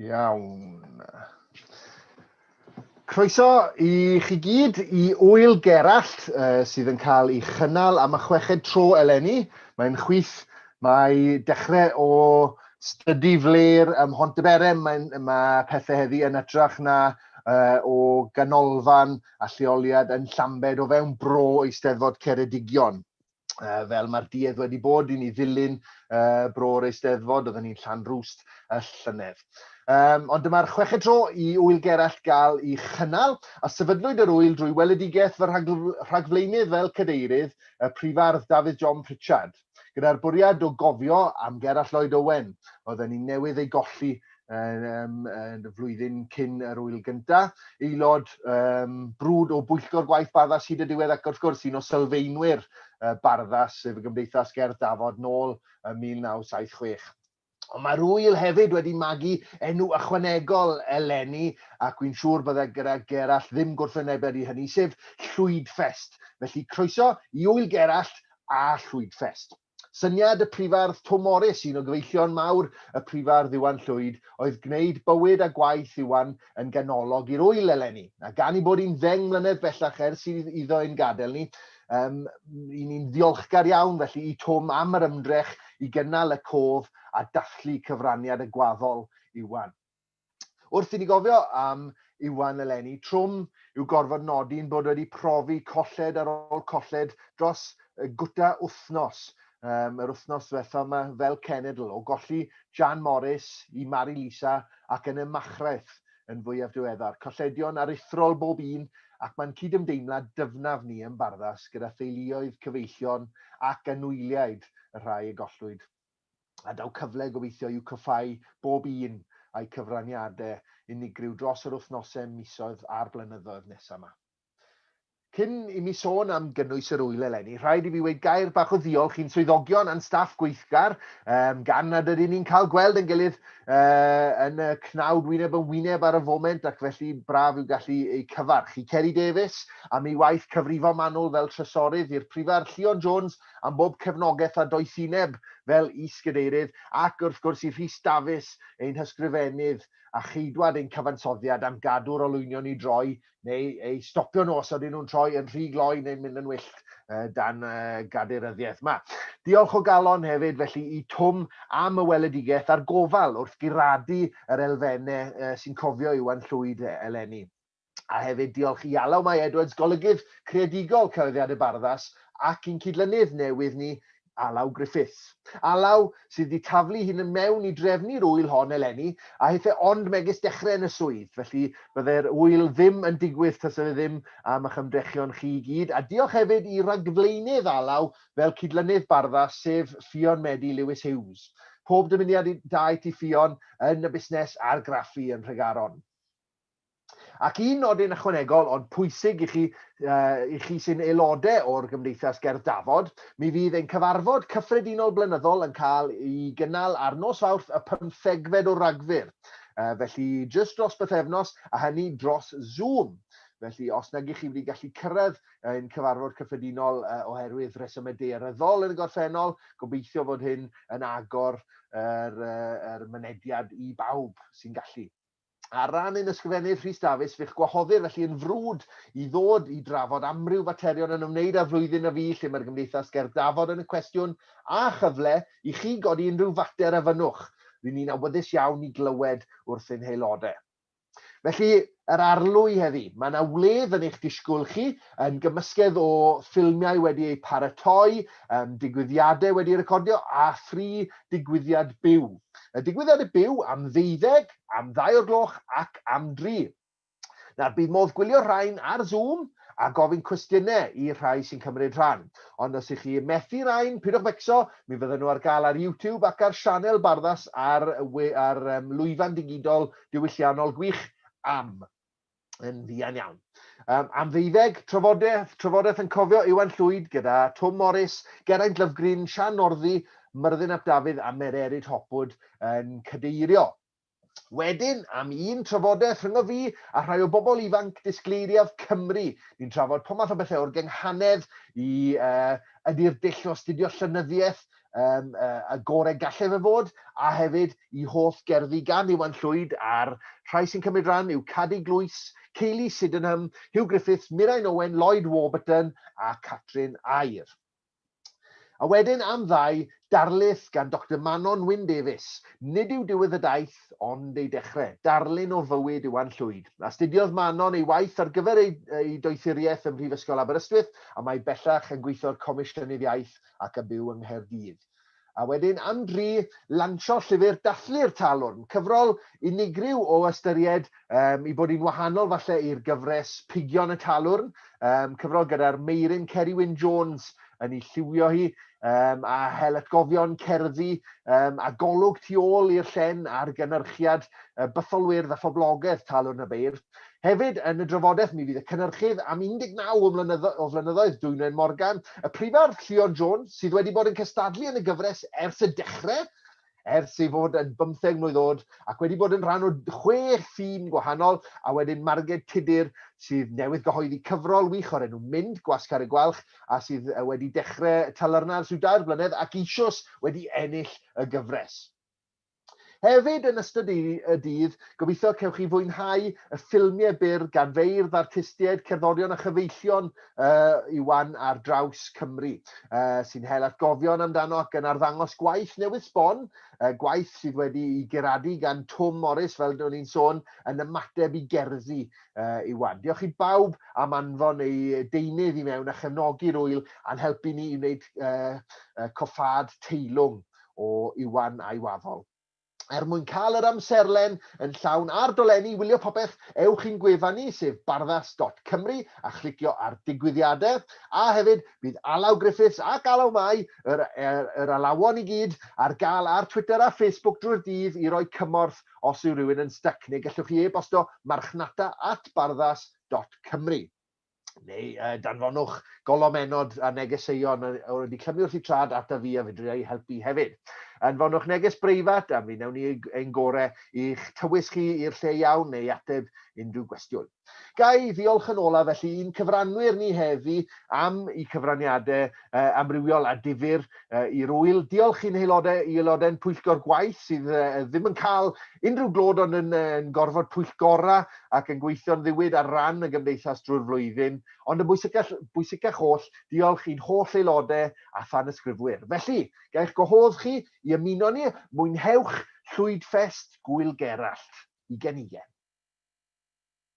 Iawn. Croeso i chi gyd i Wyl Gerallt uh, sydd yn cael ei chynnal am y chweched tro eleni. Mae'n chwith, mae dechrau o Stydi Flair ym Mhontyberem, mae, mae pethau heddi yn ytrach na uh, o ganolfan a lleoliad yn Llambed o fewn bro Eisteddfod Ceredigion. Uh, fel mae'r duedd wedi bod i ni ddilyn uh, bro'r Eisteddfod, oedden ni'n llan rwst y llynedd. Um, ond dyma'r chweched tro i Ŵyl Gerallt gael i chynnal, a sefydlwyd yr ŵyl drwy weledigaeth fy rhagfleinydd fel cadeirydd, y prifardd Dafydd John Pritchard. Gyda'r bwriad o gofio am Gerallt Lloyd Owen, oedden ni newydd ei golli um, y flwyddyn cyn yr wyl gyntaf, aelod um, brwd o bwyllgor gwaith Barddas hyd y diwedd ac wrth gwrs un o sylfeinwyr uh, Barddas, sef y Gymdeithas Gerdd Dafod, nôl ym 1976. Ond mae'r ŵyl hefyd wedi magu enw ychwanegol eleni, ac wi'n siŵr bydde gyda Gerallt ddim gwrthwynebedd i hynny, sef Llwydfest. Felly croeso i Ŵyl Gerallt a Llwydfest. Syniad y Prifardd Twm Morys, un o gyfeillion mawr y Prifardd Iwan Llwyd, oedd gwneud bywyd a gwaith Iwan yn ganolog i'r ŵyl eleni. A gan ei bod hi'n ddeng mlynedd bellach ers iddo ein gadael ni, Um, I ni'n ddiolchgar iawn felly i Twm am yr ymdrech i gynnal y cof a dathlu cyfraniad y gwaddol Iwan. Wrth i ni gofio am Iwan eleni, trwm yw gorfod nodi'n bod wedi profi colled ar ôl colled dros gwta wythnos um, yr wythnos ddiwethaf yma fel cenedl o golli Jan Morris i Mari Lisa ac yn y Machraeth yn fwyaf diweddar, colledion aruthrol bob un, ac mae'n cydymdeimlad dyfnaf ni yn Barddas gyda theuluoedd, cyfeillion ac anwyliaid y rhai y gollwyd, a daw cyfle gobeithio i'w cwffhau bob un a'u cyfraniadau unigryw dros yr wythnosau, misoedd a'r blynyddoedd nesaf 'ma. Cyn i mi sôn am gynnwys yr ŵyl eleni, rhaid i fi weud gair bach o ddiolch i'n swyddogion a'n staff gweithgar, um, gan nad ydyn ni'n cael gweld yn gilydd uh, yn y cnawd wyneb yn wyneb ar y foment ac felly braf yw gallu eu cyfarch. I Ceri Davies am ei waith cyfrifo manwl fel trysorydd, i'r Prifar Llion Jones am bob cefnogaeth a doethineb fel is-gadeirydd ac wrth gwrs i Rhys Dafis, ein hysgrifennydd a cheidwad ein cyfansoddiad am gadw'r olwynion i droi neu eu stopio nhw os ydyn nhw'n troi yn rhy gloi neu'n mynd yn wyllt uh, dan uh, gadeiryddiaeth yma. Diolch o galon hefyd felly i Twm am y weledigaeth a'r gofal wrth guradu yr elfennau uh, sy'n cofio Iwan Llwyd eleni. A hefyd diolch i Alaw Mae Edwards, golygydd creadigol Cyhoeddiad y Barddas, ac i'n cydlynydd newydd ni, Alaw Griffiths. Alaw, sydd wedi taflu hyn yn mewn i drefnu'r ŵyl hon eleni, a hith e ond megis dechrau yn y swydd, felly byddai'r ŵyl ddim yn digwydd tasa fe ddim am ych ymdrechion chi i gyd, a diolch hefyd i ragflaenydd Alaw fel cydlynydd Bardda, sef Ffion Medi Lewis Hughes. Pob dymuniad i daeth i Ffion yn y busnes argraffu yn Nhregaron. Ac un nodyn ychwanegol ond pwysig i chi, uh, i chi sy'n aelodau o'r Gymdeithas Gerdd Dafod, mi fydd ein cyfarfod cyffredinol blynyddol yn cael ei gynnal ar nos Fawrth y pymthegfed o Ragfyr. Uh, felly, jyst dros bythefnos, a hynny dros Zoom. Felly, os nag ych chi wedi gallu cyrraedd ein cyfarfod cyffredinol uh, oherwydd resymau dearyddol yn y gorffennol, gobeithio fod hyn yn agor yr, uh, er mynediad i bawb sy'n gallu. Ar ran ein Ysgrifennydd Rhys Dafis, fe'ch gwahoddir felly yn frwd i ddod i drafod amryw faterion yn ymwneud â'r flwyddyn a fu lle mae'r Gymdeithas ger dafod yn y cwestiwn, a chyfle i chi godi unrhyw fater a fynnwch. Ry'n ni'n awyddus iawn i glywed wrth ein haelodau. Felly, yr arlwy heddi. Mae yna wledd yn eich disgwyl chi, yn gymysgedd o ffilmiau wedi eu paratoi, um, digwyddiadau wedi recordio a thri digwyddiad byw. Y digwyddiad y byw am ddeuddeg, am ddau o'r gloch ac am dri. Nawr, bydd modd gwylio rhain ar Zoom a gofyn cwestiynau i'r rhai sy'n cymryd rhan. Ond os ych chi methu rhain, pidwch fecso, mi fydden nhw ar gael ar YouTube ac ar sianel Barddas ar, ar um, lwyfan digidol diwylliannol gwych am yn fuan iawn. Um, am ddeuddeg, trafodaeth, trafodaeth yn cofio Iwan Llwyd gyda Tom Morris, Geraint Lyfgrin, Sian Norddi, Myrddin ap Dafydd a Mer Erid Hopwood yn cadeirio. Wedyn, am un trafodaeth rhyngo fi a rhai o bobl ifanc disgleiriaf Cymru. Ni'n trafod pob math o bethau o'r gynghanedd i uh, ydy'r dull o astudio llynyddiaeth um, uh, y gorau gallai fe fod, a hefyd i holl gerddi gan Iwan Llwyd a'r rhai sy'n cymryd rhan yw Cadi Glwys, Ceili Sydenham, Hugh Griffiths, Mirain Owen, Lloyd Warburton a Catrin Air. A wedyn am ddau darlith gan Dr Manon Wyn Davies. Nid yw diwedd y daith, ond ei dechrau. Darlun o fywyd Iwan Llwyd. Astudiodd Manon ei waith ar gyfer ei, ei doethuriaeth ym Mhrifysgol Aberystwyth a mae bellach yn gweithio'r Comisiynydd Iaith ac yn byw yng Nghaerdydd. A wedyn am dri, lansio llyfr Dathlu'r Talwrn, cyfrol unigryw o ystyried, um, i bod hi'n wahanol falle i'r gyfres Pigion y Talwrn, um, cyfrol gyda'r meiryn Ceri Wyn Jones yn ei lliwio hi, um, a hel atgofion cerddi um, a golwg tu ôl i'r llen ar gynnyrchiad uh, bytholwyrdd a phoblogaeth Talwrn y Beirdd. Hefyd, yn y drafodaeth, mi fydd y cynhyrchydd am 19 o flynyddoedd, Dwynwen Morgan, y Prifardd Llion Jones, sydd wedi bod yn cystadlu yn y gyfres ers y dechrau, ers ei fod yn bymtheg mlwydd oed, ac wedi bod yn rhan o chwe thîm gwahanol, a wedyn Marged Tudur, sydd newydd gyhoeddi cyfrol wych o'r enw Mynd, Gwasgar y Gwalch, a sydd wedi dechrau talyrna ers rhyw dair blynedd, ac eisioes wedi ennill y gyfres. Hefyd, yn ystod y dydd, gobeithio cewch chi fwynhau y ffilmiau byr gan feirdd, artistiaid, cerddorion a chyfeillion uh, Iwan ar draws Cymru, uh, sy'n hel atgofion amdano ac yn arddangos gwaith newydd sbon, uh, gwaith sydd wedi i geradu gan Twm Morris, fel dyn ni'n sôn, yn ymateb i gerddi uh, Iwan. Diolch i bawb am anfon ei deunydd i mewn a chefnogi'r wyl a'n helpu ni i wneud uh, uh, coffad teilwng o Iwan a'i waddol. Er mwyn cael yr amserlen yn llawn a'r dolenni i wylio popeth, ewch i'n gwefan ni, sef barddas dot cymru, a chlicio ar Digwyddiadau. A hefyd, bydd Alaw Griffiths ac Alaw Mai, yr, er, yr alawon i gyd, ar gael ar Twitter a Facebook drwy'r dydd i roi cymorth os yw rhywun yn styc, neu gellwch chi e-bostio marchnata at barddas dot cymru. neu uh, danfonwch golomennod a negeseuon o'r wedi clymu wrth i trad ata fi a fedru ei helpu hefyd. Anfonwch neges breifat a mi newn ni ein gore i'ch tywys chi i'r lle iawn neu ateb unrhyw gwestiwn. Gai ddiolch yn olaf felly i'n cyfranwyr ni heddi am i cyfraniadau uh, amrywiol a difyr uh, i'r wyl. Diolch i'n haelodau, i aelodau'n pwyllgor gwaith sydd uh, ddim yn cael unrhyw glod ond yn, uh, yn gorfod pwyllgorau ac yn gweithio'n ddiwyd ar ran y gymdeithas drwy'r flwyddyn. Ond yn bwysicach, bwysicach oll, diolch i'n holl aelodau a than ysgrifwyr. Felly, gael gwahodd chi i ymuno ni, mwynhewch Llwyd Ffest Gwyl Gerallt. I genigen.